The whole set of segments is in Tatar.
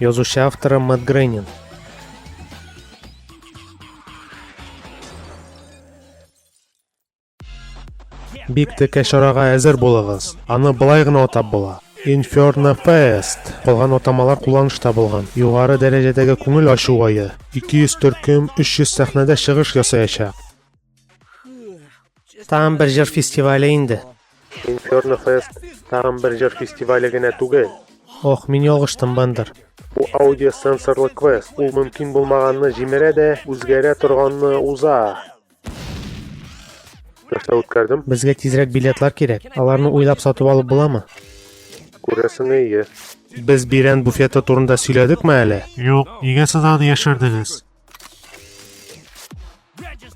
Язучы авторы Мэтт Грейнин. Бик текә чарага әзер булыгыз. Аны былай гына атап була. Inferno Fest. Калган атамалар кулланышта булган. Югары дәрәҗәдәге күңел ачу айы. 200 төркем 300 сәхнәдә чыгыш ясаячак. Тагын бер җыр фестивале инде. Инферно Фест тагын бер җыр фестивале генә түгел. Ох, мин ялгыштым, Бендер. Бу аудиосенсорлы квест. Ул мөмкин булмаганны җимерә дә, үзгәрә торганны уза. Нәрсә үткәрдем? Безгә тизрәк билетлар кирәк. Аларны уйлап сатып алып буламы? Күрәсең, әйе. Без бирән буфеты турында сөйләдекме әле? Юк, нигә сез аны яшердегез?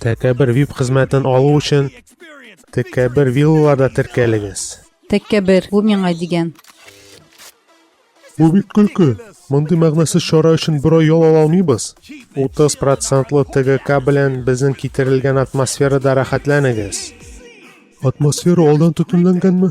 Тәкәбер VIP хезмәтен алу өчен Тәкәбер виллаларда теркәлегез. Тәкәбер, бу миңа дигән. Бу бит көлке. Мондый мәгънәсез чара өчен бер ай ял ала алмыйбыз. 30 процентлы ТГК белән безнең китерелгән атмосферада рәхәтләнегез. Атмосфера алдан төтенләнгәнме?